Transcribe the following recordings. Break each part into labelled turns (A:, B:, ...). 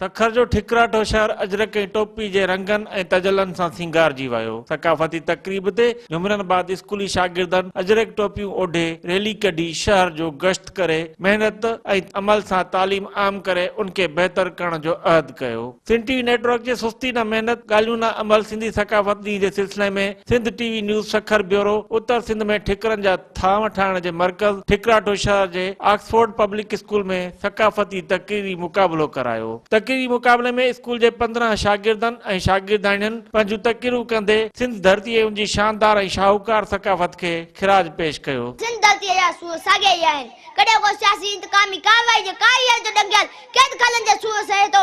A: سکر جو ٺڪراٺو شهر اجرڪ ۽ ٽوپي جي رنگن ۽ تجلن سان سينگارجي ويو. ثقافتي تقريب تي جهومرن بعد اسڪولي شاگردن اجرڪ ٽوپيون اوڍي ريلي ڪڍي شهر جو گشت ڪري محنت ۽ عمل سان تعليم عام ڪري ان کي بهتر ڪرڻ جو عهد ڪيو. سنڌ ٽي وي نيٽورڪ جي سستي نه محنت ڳالهيون نه عمل سنڌي ثقافت ڏينهن جي سلسلي ۾ Sindh T V news Sukkur bureau, اتر سنڌ ۾ ٺڪرن جا. ٿانء ٺاهڻ جي مرڪز ٺڪراٺو شهر جي آڪسفورڊ پبلڪ اسڪول ۾ ثقافتي تقريري مقابلو ڪرايو. تقريري مقابلي ۾ اسڪول جي پندرهن شاگردن ۽ شاگردياڻين پنهنجون تقريرون ڪندي سنڌ ڌرتي ۽ ان جي شاندار ۽ شاهوڪار ثقافت کي خراج پيش ڪيو. سنڌ ڌرتيء جا سور
B: ساڳيا ئي آهن. ڪڏهن ڪو سياسي انتقامي ڪارروائي جي ڪاريگر جو ڏنگيل قيد خانن جا سور سهي ٿو،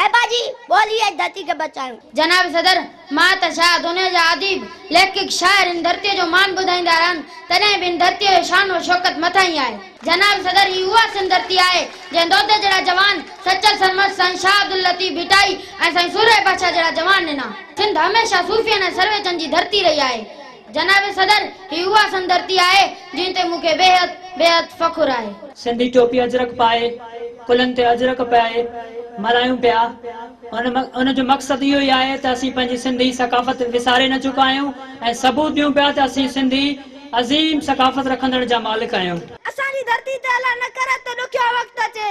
B: اي پنهنجي ٻولي ۽ ڌرتي کي بچايون. جناب صدر!
C: مان ته شايد دنيا جا اديب، ليکڪ، شاعر هن ڌرتيء جو مان ٻڌائيندا رهن، تڏهن به هن ڌرتيء جو شان و شوڪت مٿان ئي آهي. جناب صدر! هي اها سنڌ ڌرتي آهي، جنهن دودي جهڙا جوان، سچل سرمست، سائين شاهه عبداللطيف ڀٽائي ۽ سائين سورهيه بادشاهه جهڙا جوان ڏنا. سنڌ هميشه صوفين ۽ سرويچن جي ڌرتي رهي آهي. جناب صدر، هي اها سندرتي آهي، جنهن تي مون کي بيحد بيحد فخر آهي. سنڌي ٽوپي اجرڪ
D: پائي، ڪلهن تي اجرڪ پائي ملهايون پيا. ان جو مقصد اهو ئي آهي ته اسين پنهنجي سنڌي ثقافت وساري نه چڪا آهيون ۽ ثبوت ڏيون پيا ته اسين سنڌي عظيم ثقافت رکندڙن جا مالڪ آهيون. اسان جي ڌرتي تي
B: الله نه ڪري ته ڏکيو وقت اچي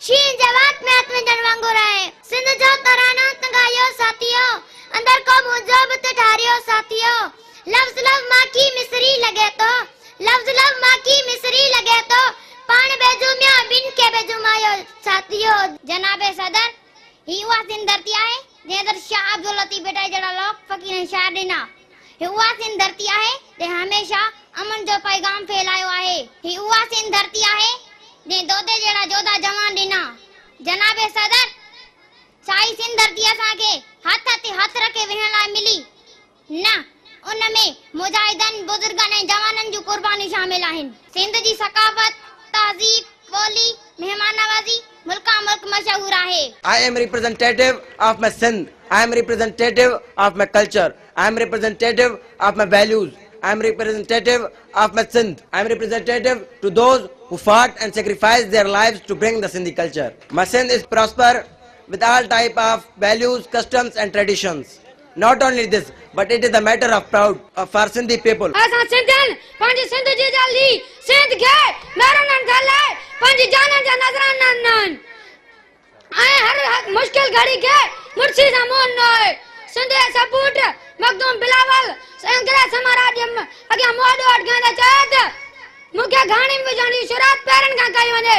B: شينهن جي وات ۾ هٿ وجهڻ وانگر آهي. سنڌ جو ترانو هت ڳايو ساٿيو. اندر ڪو منهنجو به ته ٺاريو ساٿيو. لفظ لفظ ماکي مصري لڳي ٿو. لفظ لفظ ماکي مصري لڳي ٿو. پاڻ به جهوميو ۽ ٻين کي به جهومايو ساٿيو. جناب صدر! هي اها سنڌ ڌرتي آهي، جنهن تي شاهه عبداللطيف ڀٽائي جهڙا لوڪ فقير ۽ شاعر ڏنا. هي اها سنڌ ڌرتي آهي جنهن هميشه امن جو پيغام ڦهلايو آهي. هي اها سنڌ ڌرتي آهي جنهن دودي جهڙا جوڌا جوان ڏنا. جناب صدر! سائي سنڌ ڌرتي اسان کي هٿ تي هٿ رکي ويهڻ لاء ملي نه ان ۾ مجاهدن، بزرگن ۽ جوانن جون قربانيون شامل آهن. سنڌ جي ثقافت، تهذيب، ٻولي، مهمان نوازي، ملڪان ملڪ مشهور آهي. I am representative
E: of my Sindh I am representative of my culture I am representative of my values I am representative of my Sindh I am representative to those who fought and sacrificed their lives to bring the Sindhi culture my Sindh is prosper with all type of values customs and traditions Not only this, but it is a matter of proud for Sindhi people. اسان سنڌين
C: پنهنجي سنڌ جي جان لي سينڌ کي ميرونن کان لي پنهنجي جانن جا نذرانا ڏنا آهن ۽ هر مشڪل گهڙي کي مڙسي سان منهن ڏنو آهي سنڌ جي سپوٽ مخدوم بلاول انگريز سمراٽ جي اڳيان منهن ڏوهه اٽڪائيندي چيو ته مون کي گهاڻي ۾ وجهڻ جي شروعات پيرن کان ڪئي وڃي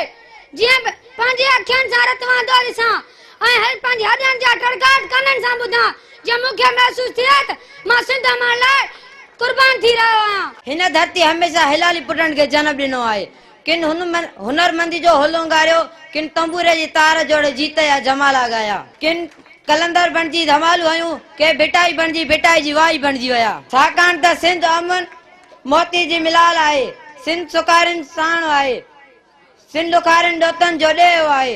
C: جيئن پنهنجي اکين سان رتوان دوري سان ۽ هل پنهنجي هڏن جا ٽڙڪاٽ ڪنن سان ٻڌان، جيئن مون کي محسوس ٿئي ته مان سنڌ امڙ لاء قربان ٿي رهيو آهيان. هن ڌرتيء هميشه
F: هلالي پٽن کي جنم ڏنو آهي. ڪن هنرمنديء جو هل اونگاريو، ڪن تنبوري جي تار جوڙي جيت جا جمالا ڳايا، ڪن قلندر بڻجي ڌمالون هنيون، ڪي ڀٽائي بڻجي ڀٽائي جي وائي بڻجي ويا. ڇاڪاڻ ته سنڌ امڙ موتي جي ملال آهي، سنڌ سڪارين ساڻ آهي. سنڌ ڏکارين ڏوتن جو ڏيهه آهي،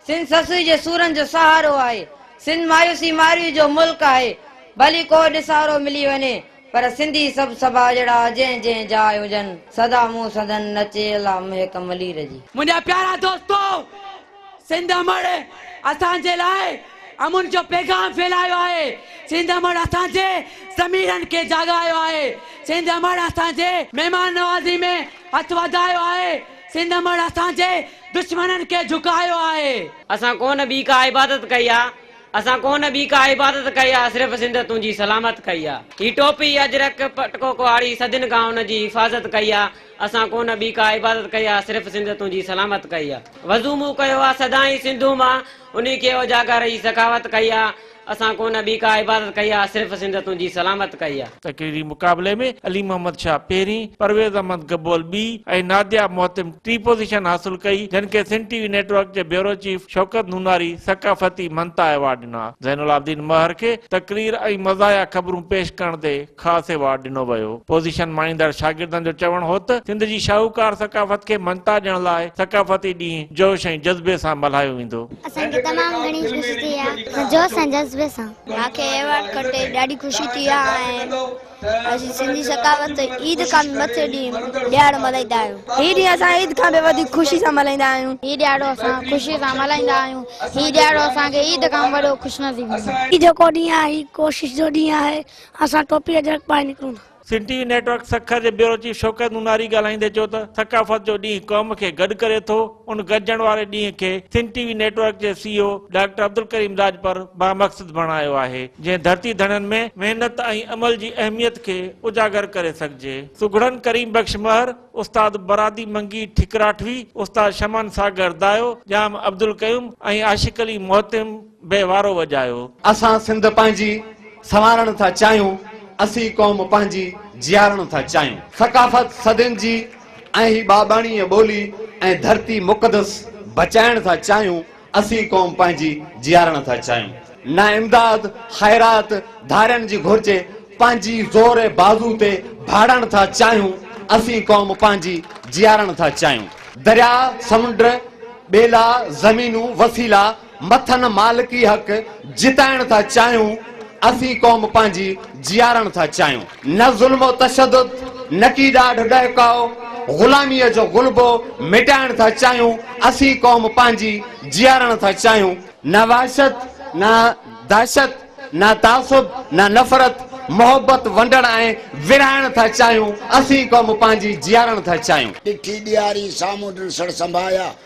F: سنڌ سسئي جي سورن جو سهارو آهي، سنڌ مايوسي مارئي جو ملڪ آهي، ڀلي ڪو ڏسارو ملي وڃي، پر سنڌي سڀ سڀاڄڙا جنهن جنهن جاء هجن، سدا مون سندن نچي الله محڪ ملير جي. منهنجا پيارا دوستو!
G: سنڌ امڙ اسان جي لاء امن جو پيغام ڦهلايو آهي، سنڌ امڙ اسان جي ضميرن کي جاڳايو آهي، سنڌ امڙ اسان جي مهمان نوازي ۾ هٿ وڌايو آهي، سنڌ مڙ اسان جي دشمنن کي جهڪايو آهي. اسان ڪو نه ٻي
H: ڪا عبادت ڪئي آ، اسان ڪو نه ٻي ڪا عبادت ڪئي آ، صرف سنڌ تنهنجي سلامت ڪئي آ. هي ٽوپي، اجرڪ، پٽڪو ڪهاڙي صدين کان ان جي حفاظت ڪئي آ، اسان ڪو نه ٻي ڪا عبادت ڪئي آ، صرف سنڌ تنهنجي سلامت ڪئي آ. وضو مون ڪيو آ سدائين سنڌو مان، انهي کي اجاگر هي سخاوت ڪئي آ، اسان ڪو نه ٻي ڪا عبادت ڪئي آ صرف سنڌ تنهنجي سلامت ڪئي آ. تقريري مقابلي ۾
A: علي محمد شاهه پهرين، پرويز احمد گبول ٻي ۽ ناديا محتم ٽي پوزيشن حاصل ڪئي جن کي Sindh T V network جي بيورو چيف شوڪت نوناري ثقافتي مھنتا ايوارڊ ڏنا. زين العابدين مهر کي تقرير ۽ مزاحيه خبرون پيش ڪرڻ تي. خاص ايوارڊ ڏنو ويو. پوزيشن ماڻيندڙ شاگردن جو چوڻ هو ته سنڌ جي شاهوڪار ثقافت کي مڃتا ڏيڻ لاء ثقافتي ڏينهن جوش ۽ جذبي سان ملهايو ويندو. اسان کي تمام گهڻي
I: خوشي ٿي آ ۽ جوش ۽ جذبي سان. مان کي ايوارڊ کٽي ڏاڍي خوشي ٿي آ ۽ اسين سنڌي ثقافت عيد کان به مٿي ڏينهن ڏيهاڙو ملهائيندا آهيون. هي ڏينهن اسان عيد کان به وڌيڪ خوشي سان ملهائيندا آهيون. هي ڏيهاڙو اسان خوشي سان ملهائيندا آهيون. هي ڏيهاڙو اسان کي عيد کان به وڏو خوشنصيب مليو. هي جيڪو ڏينهن آهي هي ڪوشش جو ڏينهن آهي. اسان ٽوپي اجرڪ پائي نڪرون ٿا. Sindh T V network
A: Sukkur جي بيورو چيف شوڪت نوناري ڳالهائيندي چيو ته ثقافت جو ڏينهن قوم کي گڏ ڪري ٿو، ان گڏجڻ واري ڏينهن کي Sindh T V network جي C E O doctor Abdulkarim Rajpar بامقصد بڻايو آهي، جنهن ڌرتي ڌڻين ۾ محنت ۽ عمل جي اهميت کي اجاگر ڪري سگهجي. سگهڙن ڪريم بخش مهر، استاد برادي منگي ٺڪراٺوي، استاد شمن ساگر دايو، ڄام عبدالقيوم ۽ عاشق علي مهتم، به وارو وڄايو. اسان سنڌ
J: پنهنجي سنوارڻ ٿا چاهيون، اسين قوم پنهنجي جيارڻ ٿا چاهيون. ثقافت صدين جي ۽ هي ٻاٻاڻيء ٻولي ۽ ڌرتي مقدس بچائڻ ٿا چاهيون، اسين قوم پنهنجي جيارڻ ٿا چاهيون. نه امداد، خيرات، ڌارين جي گهرجي، پنهنجي زور بازو تي ڀاڙڻ ٿا چاهيون، اسين قوم پنهنجي جيارڻ ٿا چاهيون. درياء، سمنڊ، ٻيلا، زمينون، وسيلا، مٿن مالڪي حق جتائڻ ٿا چاهيون، اسين قوم پنهنجي جيارڻ ٿا چاهيون. نه ظلم و تشدد، نه ڪي ڏاڍ ڏهڪاء، غلاميء جو غلبو مٽائڻ ٿا چاهيون، اسين قوم پنهنجي جيارڻ ٿا چاهيون. نه وحشت، نه دهشت، نه تعصب، نه نفرت، محبت ونڊڻ ۽ ورهائڻ ٿا چاهيون، اسين قوم پنهنجي جيارڻ ٿا چاهيون. ڏٺي ڏياري،
K: سامهون ڊنسڙ سنباهيا،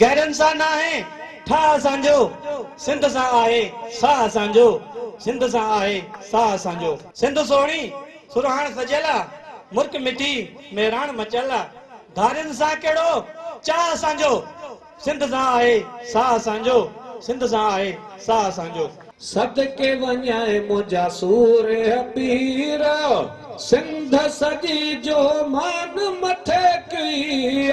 L: گهرن سان ناهي
M: ٺاهه اسان جو، سنڌ سان آهي ساهه اسان جو، سنڌ سان آهي ساهه اسان جو. سنڌ سهڻي سرهاڻ سجيل آ، مرڪ مٺي مهراڻ مچيل آ، ڌارين سان ڪهڙو چاهه اسان جو، سنڌ سان آهي ساهه اسان جو، سنڌ سان آهي ساهه اسان جو. صدقي وڃين منهنجا سور پير، سنڌ سڄي جو مان مٿي ڪيئي.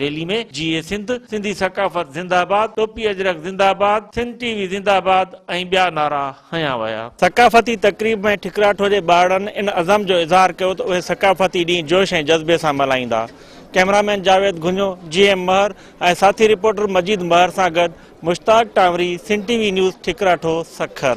A: ريلي ۾ جي اي سنڌ، سنڌي ثقافت زنده آباد، ٽوپي اجرڪ زنده آباد، سنڌ ٽي وي زنده آباد ۽ ٻيا نعرا هنيا ويا. ثقافتي تقريب ۾ ٺڪراٺو جي ٻارڙن ان عزم جو اظهار ڪيو ته اهي ثقافتي ڏينهن جوش ۽ جذبي سان ملهائيندا. ڪئميرا مين جاويد گهنيو، جي ايم مهر ۽ ساٿي رپورٽر مجيد مهر سان گڏ Mushtaq Tanwari, Sindh T V news, Thakrato, Sukkur.